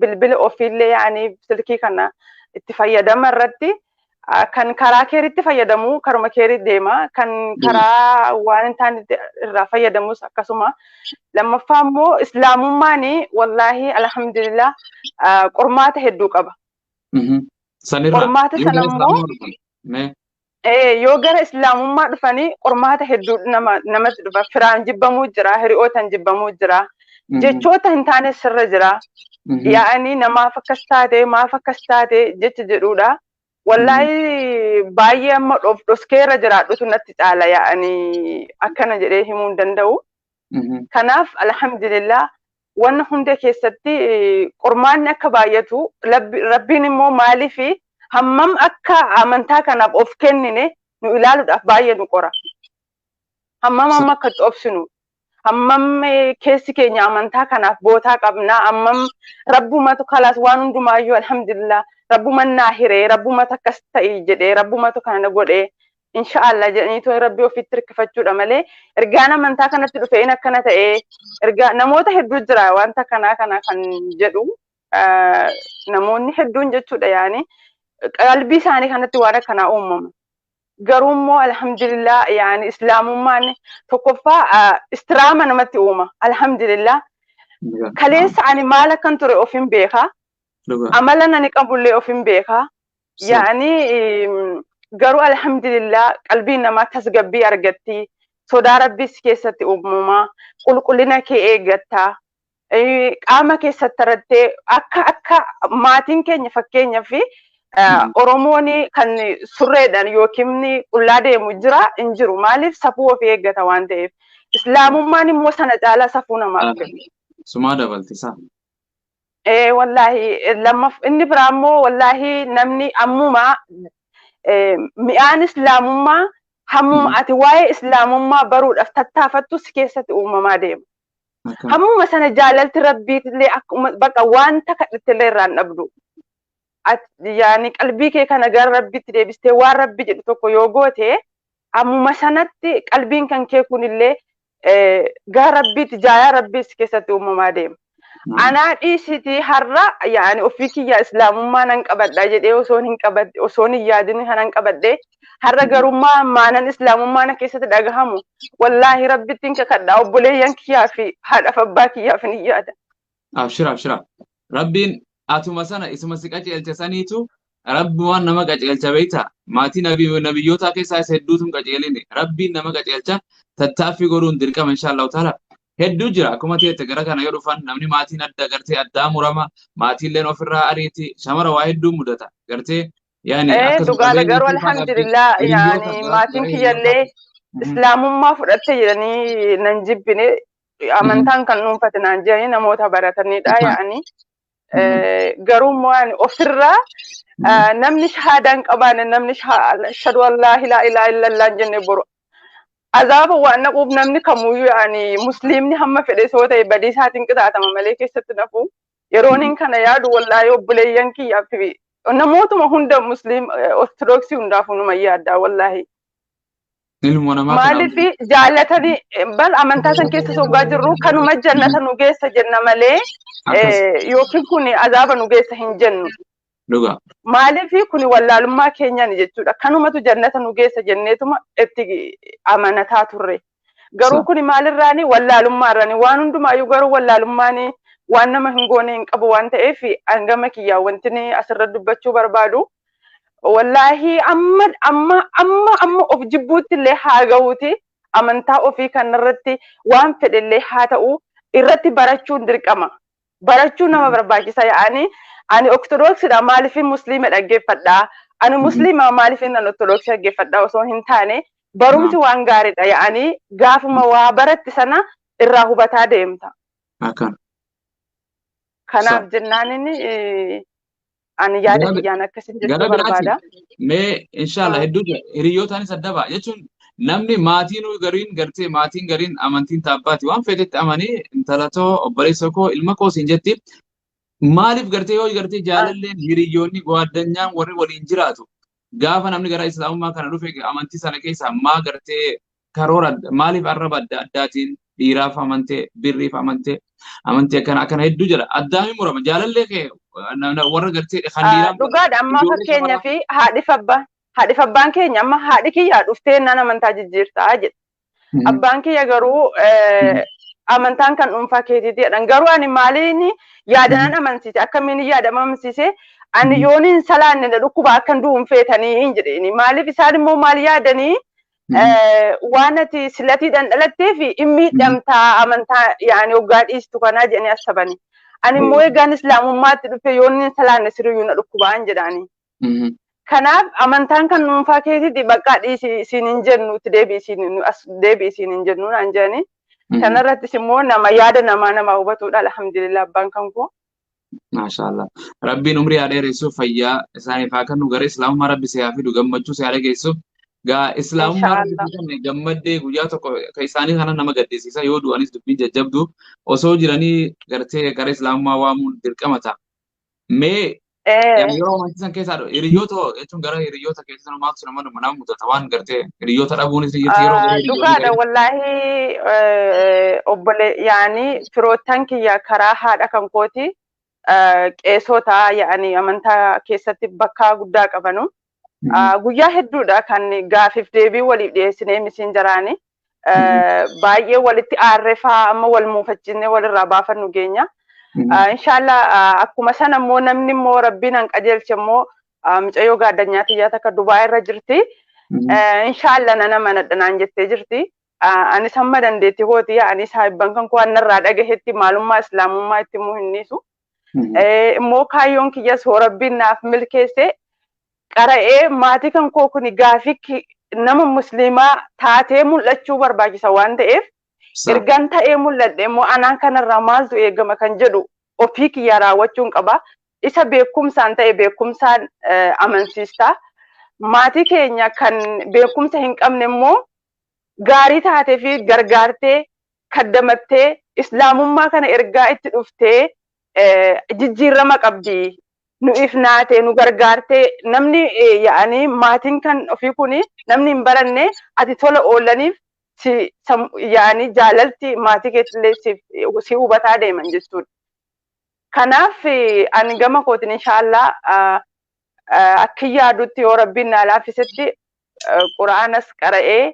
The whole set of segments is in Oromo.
bilbila ofiillee yaa'anii silkii kana itti fayyadama irratti kan karaa keeritti fayyadamu karuma keerii deema kan karaa waan hin taane irraa fayyadamus akkasuma lammaffaa immoo islaamummaan wallaahi alhamdulillah qormaata hedduu qaba. Sanirraa qormaata sana immoo Eh, yoo gara islaamummaa dhufanii qormaata hedduu nama namatti dhufa firaan jibbamuu jira hiriyootan jibbamuu jira Mhm. jechoota hin taane sirra jira Mhm. yaa'anii namaaf akkas taate maaf akkas taate jecha jedhuudha wallaahi baay'ee amma dhof dhoskeera jiraadhutu natti caala yaa'anii akkana jedhee himuu hin danda'u Mhm. kanaaf alhamdulillah Wanna hunda keessatti qormaanni akka baay'atu, Rabbiin immoo maaliif hammam akka amantaa kanaaf of kennine nu ilaaluudhaaf baay'ee nu qora. Hammam amma akka itti obsinu, hammam keessi keenya amantaa kanaaf bootaa qabna, hammam rabbumatu kalaas waan hundumaayyuu alhamdulillah rabbuma naa hiree, rabbumatu akkas ta'i jedhee, rabbumatu kana godhee, insha'Allah jedhanii too rabbi ofitti hirkifachuudha malee ergaan amantaa kanatti dhufe in akkana ta'ee ergaa namoota hedduu jira wanta kanaa kana kan jedhu ah, namoonni hedduun jechuudha yaani qalbii isaanii kanatti waan akkanaa uumama. Garuu immoo alhamdulillah yaani islaamummaan tokkoffaa ah, istiraama namatti uuma alhamdulillah kaleessa ani maal akkan ture ofin beekaa dhugaa amalan ani qabullee ofin beekaa Yaani garuu alhamdulillah qalbiin namaa tasgabbii argatti. Sodaa rabbiis keessatti uumama. Qulqullina kee eeggatta. Qaama keessatti irratti akka akka maatiin keenya fakkeenyaaf Oromoon kan surreedhaan yookiin qullaa deemu jira hin jiru. Maaliif safuu ofii eeggata waan ta'eef. Islaamummaan immoo sana caalaa safuu namaaf kenna. Sumaa dabalti isaa. Ee wallaahi lammaf inni biraa immoo wallaahi namni ammuma mi'aan islaamummaa hammuma ati waa'ee islaamummaa baruudhaaf tattaafattu si keessatti uumamaa deema. Hammuma sana jaalalti rabbiitillee akkuma bakka wanta kadhattillee irraa hin dhabdu. Yaani qalbii kee kana gara rabbiitti deebistee waan rabbi jedhu tokko yoo goote hammuma sanatti qalbiin kan kee kunillee gara rabbiitti jaayaa rabbii si keessatti uumamaa deema. Anaa dhiisitii har'a yaani ofii kiyya islaamummaa nan qabadha jedhee osoon hin qabadhe osoon hin yaadin kanan qabadhe har'a garummaa maanan islaamummaa na keessatti dhagahamu wallaahi rabbittiin kakadha obboleeyyan kiyyaa fi haadhaaf abbaa kiyyaaf hin yaada. Abshira abshira. Rabbiin atuma sana isuma si qajeelche saniitu rabbumaan nama qajeelcha beekta. Maatii nabi nabiyyootaa keessaa isa hedduutu hin qajeelini. Rabbiin nama qajeelcha tattaaffii godhuun dirqama inshaallahu taala. Hedduu jira akkuma teette gara kana yoo dhufan namni maatiin adda gartee addaa murama maatiilleen ofirraa ariiti shamara waa hedduu mudata gartee yaani Eh, akkasuma dhugaadha qabeenyi garuu siifaa qabdi alhamdulillah hiriyyoo yaani maatiin kasaartee kiyyallee islaamummaa fudhatte jedhanii nan jibbine amantaan kan dhuunfate naan jedhanii namoota baratanidha Isaan. yaa'anii. Eh, Garuu immoo ani ofirraa eh, namni shahaadaa hin qabaanne namni shaha- ashhadu an laa ilaaha illaa illallah hin jenne boru azaaba waan naquuf namni kamuyyuu yaa'anii musliimni hamma fedhe soo ta'e badii isaatiin qixaatama malee keessatti nafu yerooniin kana yaadu wallaayee obboleeyyan kiyyaaf fi namootuma hunda musliim ortodoksii hundaafuu numa yaaddaa wallaahii. Ilmoo namaa kana Maaliif jaallatanii bal amantaa san keessa soggaa jirru kanuma jannata nu geessa jenna malee akkas eh, yookiin kun azaaba nu geessa hin jennu. dhugaa. Maaliif kun wallaalummaa keenyaan jechuudha. Kanumatu jannata nu geessa jenneetuma itti amanataa turre. Garuu Sa- kuni maalirraani wallaalummaa irraani waan hundumaayyuu garuu wallaalummaani waan nama hin goone hin qabu waan ta'eef hangama kiyyaa wantini asirra dubbachuu barbaadu. Wallaahi amma amma amma amma of jibbuutti illee haa gahuuti amantaa ofii kanarratti waan fedhe illee haa ta'u irratti barachuun dirqama. barachuu nama barbaachisa yaani ani ortodoksidha maaliif musliima dhaggeeffadha ani musliima maaliif nan ortodoksii dhaggeeffadha osoo hin taane barumsi Naam. waan gaariidha yaani gaafuma waa baratte sana irraa hubataa deemta akana kanaaf jennaan inni eh, Ani yaada Gara- kiyyaan akkasiin jechuu gara biraati barbaada. mee inshallah Ah. hedduu jira hiriyootaanis adda ba'a jechuun namni maatiin gariin gartee maatiin gariin amantiin taabbaati waan feetetti amanii intala too obboleessa koo ilma koo siin jetti maaliif gartee yoo gartee jaalalleen hiriyoonni gowaadanyaan warri waliin jiraatu gaafa namni gara islaamummaa kana dhufe amantii sana keessaa maa gartee karoora adda- maaliif arraba adda addaatiin dhiiraaf amantee birriif amantee amantee akkana akkana hedduu jira addaami murama jaalallee kee na- na- warra gartee kan Ah, dhiiraa dhugaadha amma ijoollee fakkeenya shamarraa- fi haadhif abbaa haadhif abbaan keenya amma haadhi kiyyaa dhuftee naan amantaa jijjiirtaa jedhe Mhm. abbaan kiyya garuu eh, amantaan kan dhuunfaa keetiiti jedhan garuu ani maaliin yaadanan amansiise akkamiin yaada amansiise ani Mhm. yooniin salaanne na dhukkuba akkan du'uun feetanii hin jedheeni maaliif isaan immoo maal yaadanii waan ati silatii dhandhalattee fi hin miidhamtaa amantaa yaani hoggaa dhiistu kanaa jedhanii asabani. Ani immoo eegaan islaamummaatti dhufe yoo inni salaanne siriyyuu na dhukkubaan jedhaani. Kanaaf amantaan kan dhuunfaa keessatti baqqaa dhiisi siin hin jennu itti deebi'i siin as deebi'i siin hin jennu naan jedhani. Kanarrattis immoo nama yaada namaa namaa hubatudha alhamdulillah abbaan kan koo. Maashaallah. Rabbiin umrii haa dheeressu fayyaa isaaniif haa kennu gara islaamummaa rabbi si haa fidu gammachuu si haa dhageessu. Gaa islaamummaa rabbi Inshaallah. si kenne gammaddee guyyaa tokko ka isaanii kana nama gaddisiisa yoo du'anis dubbiin jajjabdu osoo jiranii gartee gara islaamummaa waamuun dirqama ta'a. Mee Eh. yeroo amantii san keessaa dho- hiriyoota hoo jechuun gara hiriyoota kee Isa maaltu nama nama nama mudata waan gartee hiriyoota dhabuunis ni jirti yeroo baay'ee Dhugaadha wallaahi obbole yaani firoottan kiyya karaa haadha kan kooti qeesota yaani amantaa keessatti bakkaa guddaa qabanu. Guyyaa hedduudha kan gaafiif deebii waliif dhiyeessinee misiin jaraani. Baay'ee walitti aarrefaa amma wal muufachiisnee walirraa baafannu geenya. Inshaallah akkuma sana immoo namni immoo rabbiin an qajeelche immoo Mucayyoo gaaddanyaa tiyyaa takka Dubaay irra jirti. Inshaallah nan amanadha naan jettee jirti. Anis hamma dandeetti kooti ani saahibban kan koo annarraa dhagahetti maalummaa islaamummaa itti immoo hin dhiisu. Immoo kaayyoon kiyyas hoo rabbiin naaf milkeesse qara'ee maatii kan koo kuni gaafii nama musliimaa taatee mul'achuu barbaachisa waan ta'eef ergan ta'ee mul'adhe immoo anaan kanarraa maaltu eegama kan jedhu ofii kiyyaa raawwachuun qaba. Isa beekumsaan ta'e beekumsaan amansiista. Maatii keenya kan beekumsa hin qabne immoo gaarii taatee fi gargaartee kaddamattee islaamummaa kana ergaa itti dhuftee jijjiirrama qabdi. Nu ifnaatee nu gargaartee namni yaa'anii maatiin kan ofii kun namni hin baranne ati tola oolaniif si yaa'anii jaalalti maatii keetillee si hubataa deeman jechuudha. Kanaaf ani gama kootiin inshaa Allah akkin yaadutti yoo Rabbiin naa laaffisetti Qur'aanas qara'ee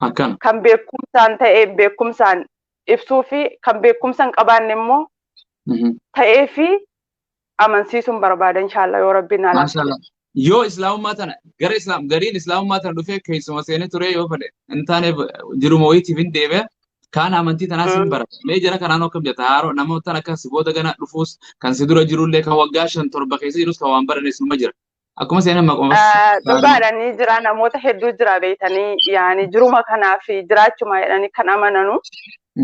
Akkana. kan beekkumsaan ta'e beekkumsaan ibsuu fi kan beekkumsa hin qabaanne immoo Mhm. ta'ee fi amansiisuun barbaada inshaa Allah yoo Rabbiin naa laaffisetti. Maashaallah. yoo islaamummaa tana gara islaam gariin islaamummaa tana dhufee keessuma seenee turee yoo fedhe hin taane jiruma wayiitiif hin deebi'a kaan amantii tanaas hin bara mee jara kanaan akkam jetta haaroo namootaan akka si booda gana dhufuus kan si dura jirullee kan waggaa shan torba keessa jirus kan waan baranes numa jira akkuma seenan maquma dhugaadha ni jira namoota hedduu jira beektanii yaani jiruma kanaaf jiraachuma jedhanii kan amananu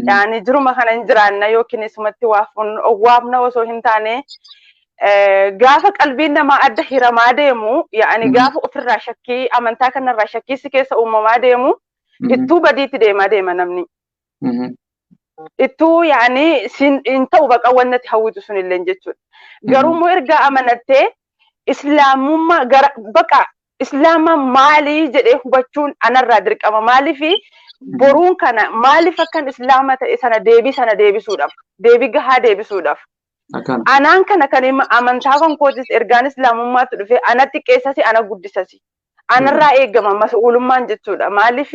Yaani jiruma kana hin jiraanna yookiin isumatti waa fuunnu owwaamna osoo hin taane gaafa qalbiin namaa adda hiramaa deemu yaani gaafa ofirraa shakkii amantaa kanarraa shakkii si keessa uumamaa deemu ittuu badiitti deemaa deema namni. Ittuu yaani hin ta'u baqa wannati hawwitu sunillee jechuudha. Garuu immoo ergaa amanattee islaamummaa gara baqa Islaama maali jedhee hubachuun anarraa dirqama. Maaliif boruun kana maaliif akkan islaama ta'e sana deebii sana deebisuudhaaf deebii gahaa deebisuudhaaf. Akkaan. Anaan kana kan hima amantaa kan kootis ergaan islaamummaatti dhufee ana xiqqeessasi ana guddisasi. Anarraa eegama mas'uulummaan jechuudha. Maaliif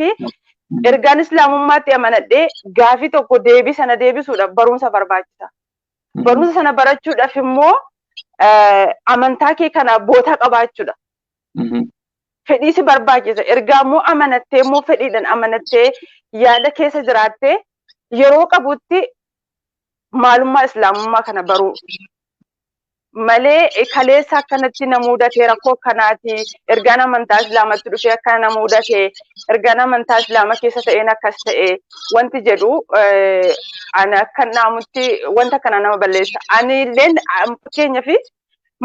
ergaan islaamummaatti amanadhee gaafii tokko deebii sana deebisuudhaaf barumsa barbaachisa. Barumsa sana barachuudhaaf immoo amantaa kee kana bootaa qabaachuudha. Fedhii si barbaachisa. Ergaa immoo amanattee immoo fedhiidhaan amanattee yaada keessa jiraattee yeroo qabutti maalummaa islaamummaa kana baruu. malee kaleessa akkanatti na muudate rakkoo akkanaati ergaan amantaa islaamatti dhufee akkana na muudate ergaan amantaa islaama keessa ta'een akkas ta'e wanti jedhu ani akkan dhaamutti wanta kana nama balleessa ani illeen fakkeenya fi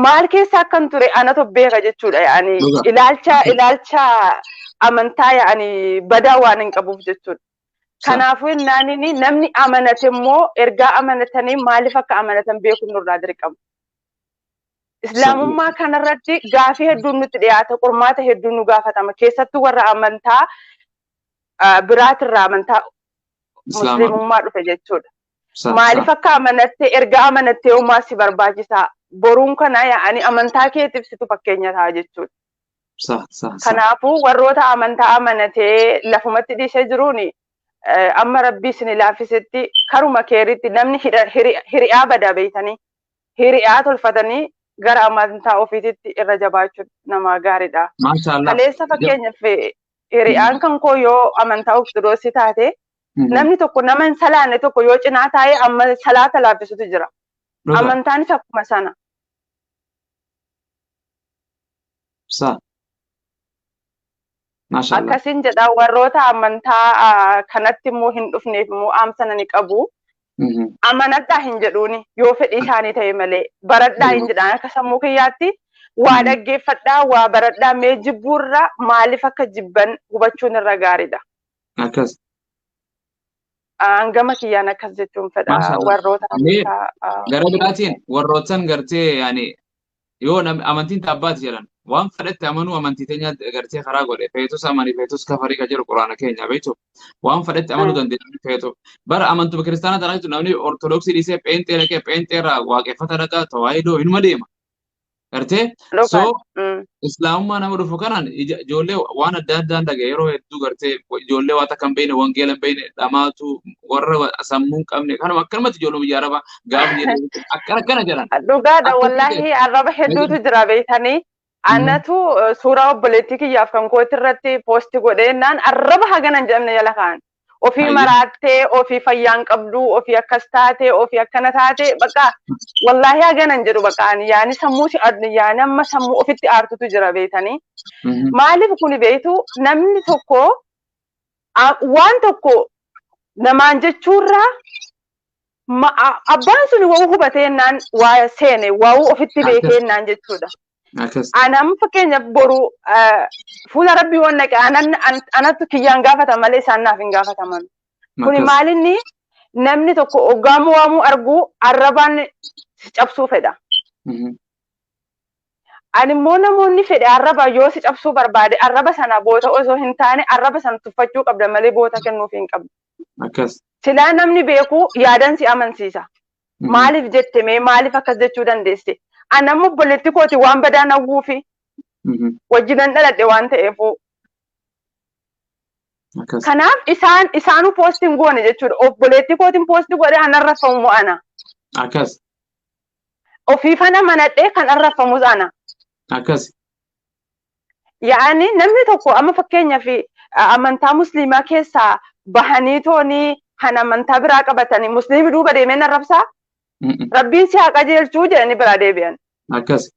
maal keessa akkan ture anatu beeka jechuudha yaani ilaalcha ilaalcha amantaa yaani badaa waan hin qabuuf jechuudha. Kanaafuu innaan inni namni amanate immoo ergaa amanatanii maaliif akka amanatan beekuun nurraa dirqama. Islaamummaa kanarratti gaafii hedduun nutti dhiyaata, qormaata hedduun nu gaafatama. Keessattuu warra amantaa ah, biraatirraa amantaa Islaama. musliimummaa dhufe jechuudha. Sa- Maaliif sa- akka amanatte erga amanattee homaa si barbaachisaa boruun kana yaa'anii amantaa keetiif situ fakkeenya ta'a jechuudha. Sah, sah, sah. Kanaafuu warroota amantaa amanatee lafumatti dhiisee jiruun eh, amma rabbii isin laaffisetti karuma keeritti namni hidha- hiri- hiri'aa badaa beeytanii hiri'aa tolfatanii gara amantaa ofiititti irra jabaachuun namaa gaariidha. Maashaallah. Kaleessa Ja- fakkeenyaaf eh, hiri'aan kan koo yoo amantaa ortodoksii taate Mhm. namni tokko nama hin salaanne tokko yoo cinaa taa'ee amma salaata laaffisutu jira. Dhuga. Amantaanis akkuma sana. Sa. Maashaallah. Akkasin jedha warroota amantaa ah, kanatti immoo hin dhufneef immoo dhaamsa nani qabu. Mhm. Amanadhaa hin jedhuuni yoo fedhii isaanii ta'e malee baradhaa hin jedhaan akka sammuu kiyyaatti waa Mhm. dhaggeeffadhaa waa baradhaa mee jibbuurra maaliif akka jibban hubachuun irra gaariidha. Akkas. Hangama kiyyaan akkas jechuun fedha Maashaallah. warroota Mee amantaa. ah, Gara biraatiin warroottan gartee yaani Yoo nam- amantiin ta abbaati jedhan waan fedhetti amanuu amantii teenya gartee karaa godhe feetus amani feetus kafarii ka jedhu quraana keenya beektu waan fedhetti amanuu Mm. dandeenya namni feetu bara amantuma kiristaanaa tanaa jechuun namni ortodoksii dhiisee pheenxee dhaqee pheenxee irraa waaqeffata dhaqaa tawaahidoo hinuma deema gartee Dhugaa. soo Mm. islaamummaa nama dhufu kanaan ija- ijoollee waan adda addaan dhagaye yeroo hedduu gartee ijoollee waan takka hin beekne wangeela hin beekne dhamaatu warra sammuu hin qabne kanuma akkanumatti ijoollee biyya arabaa gaafa jedhu akka akkana jedhan. Dhugaadha Akka wallaahi ta'e. arraba hedduutu jira beektanii. Anatu eh, suuraa obboleettii kiyyaaf kan kooti irratti poosti godhee naan arraba hagana hin jedhamne jala kaa'an. Ofii Ayyo. maraattee, ofii fayyaan qabdu, ofii akkas taate, ofii akkana taate, bakka wallaahi hagana hin jedhu bakka ani yaani sammuu si ad- yaani amma sammuu ofitti aartutu jira beektanii. Mhm. Maaliif kun beektu namni tokko waan tokko namaan jechuurraa abbaan sun wa'uu hubateennaan waa seene wa'uu ofitti beekeennaan jechuudha. Anam fakkeenyaaf boru fuula rabbii waan naqe anatu kiyyaan gaafata malee isaan naaf hin gaafataman. Kuni maalinni namni tokko oggaamuu waamuu arguu arrabaan cabsuu fedha. Ani immoo namoonni fedhe arraba yoo si cabsuu barbaade arraba sana goota osoo hin taane arraba sana tuffachuu qabda malee goota kennuuf hin qabdu. Akkas. Silaa namni beeku yaadan si amansiisa. Mhm. Maaliif jette mee maaliif akkas jechuu dandeesse? Ani amma obboleetti kooti waan badaan hawwuufi Mhm. wajjinan dhaladhe waan ta'eefuu. Akkas. Kanaaf isaan isaanuu poosti hin goone jechuudha. Obboleetti kootiin poosti godhe anarra ta'u mo'ana. Akkas. Ofiifan amanadhee kan arrabfamus ana. Akkasi. Yaa'anii namni tokko amma fakkeenyaaf amantaa musliimaa keessaa bahanii toonii kan amantaa biraa qabatanii musliimi duuba deemeen arrabsaa Mm-mm. rabbiin si haa qajeelchuu jedhanii biraa deebi'an. Akkasi.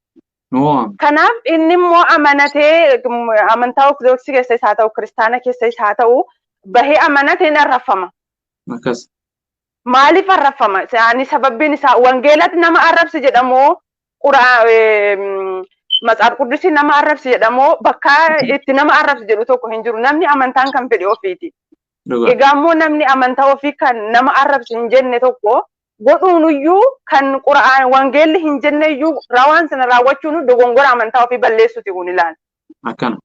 Nu waama. Kanaaf inni immoo amanatee mm, amantaa ortodoksii keessa isaa ta'u kiristaana keessa isaa ta'u bahee amanatee hin arrabfama. Akkasi. Maaliif arrabfama? Isaanii sababbiin isaa wangeelatti nama arrabsi jedhamoo qura matsaaf quddusii nama arrabsi jedhamoo bakka itti nama arrabsi jedhu tokko hin jiru. Namni amantaan kan fedhe ofiiti. Dhugaa. Egaa immoo namni amantaa ofii kan nama arrabsi hin jenne tokko godhuunuyyuu kan qura'aan wangeelli hin jenneyyuu rawaan sana raawwachuun dogongora amantaa ofii balleessuti kun ilaala. Akkana.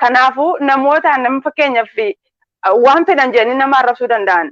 Kanaafuu namoota nama fakkeenyaaf waan fedhan jedhanii nama arrabsuu danda'an.